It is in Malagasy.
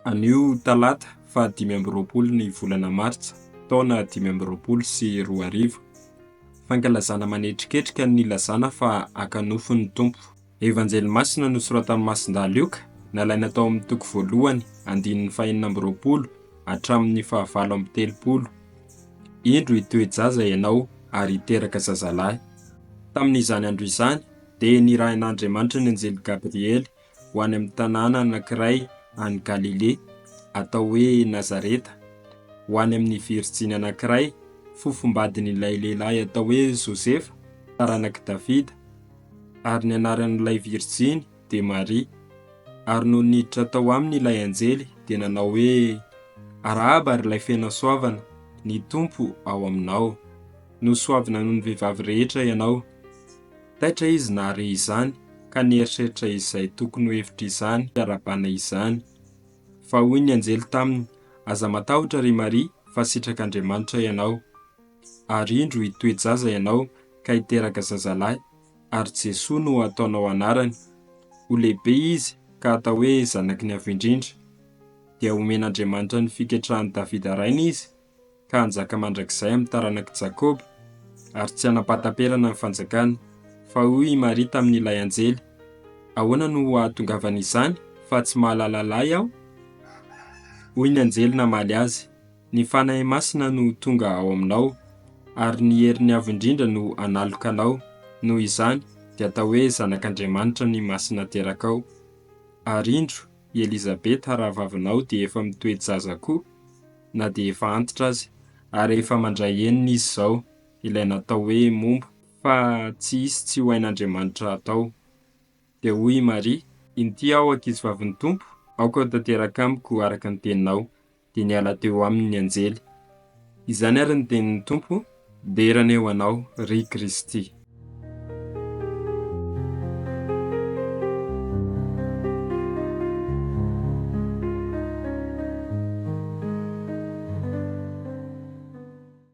Anio talata faha dimy amby roapolo ny volana martsa taona dimy amby roapolo sy roa arivo, fankalazana manetriketrika ny nilazana fa haka nofo ny Tompo. Evanjely masina nosoratan'i Masindahy Lioka, nalaina tao amin'ny toko voalohany, andininy fahenina amby roapolo hatramin'ny fahavalo amby telopolo. Indro hitoe-jaza ianao ary hiteraka zazalahy. Tamin'izany andro izany, dia nirahin'Andriamanitra ny anjely Gabriely ho any amin'ny tanàna anankiray any Galilea, atao hoe Nazareta, ho any amin'ny virjiny anankiray, fofombadin'ilay lehilahy atao hoe Josefa, taranak'i Davida. Ary ny anaran'ilay virjiny dia Maria. Ary nony niditra tao aminy ilay anjely dia nanao hoe, Arahaba ry ilay feno hasoavana, ny Tompo ao aminao. Nosoavina noho ny vehivavy rehetra ianao. Taitra izy nahare izany ka nieritreritra izay tokony ho hevitr'izany fiarahabana izany. Fa hoy ny anjely taminy, Aza matahotra ry Maria fa sitrak'Andriamanitra ianao. Ary indro hitoe-jaza ianao ka hiteraka zazalahy, ary Jesoa no ataonao anarany. Ho lehibe izy ka atao hoe Zanaky ny Avo Indrindra. Dia homen'Andriamanitra ny fiketrahan'i Davida rainy izy, ka hanjaka mandrakizay amin'ny taranak'i Jakoba, ary tsy hanam-pahataperana ny fanjakany. Fa hoy i Maria tamin'ilay anjely, Ahoana no hahatongavan'izany, fa tsy mahalala lahy aho? Hoy ny anjely namaly azy, Ny Fanahy Masina no tonga ao aminao, ary ny heriny avo indrindra no analoka anao, noho izany dia atao hoe zanak'Andriamanitra ny masina aterakao. Ary indro, i Elizabeta rahavavinao dia efa mitoe-jaza koa, na dia efa antitra aza. Ary efa mandray enina izy izao, ilay natao hoe momba, fa tsy hisy tsy ho hain'Andriamanitra hatao. Dia hoy i Maria. Inty aho ankizivavin'ny Tompo, aoka ho tanteraka amiko araka ny teninao. dia niala teo aminy ny anjely. Izany ary ny tenin'ny Tompo, Dera anie ho anao, ry Kristy.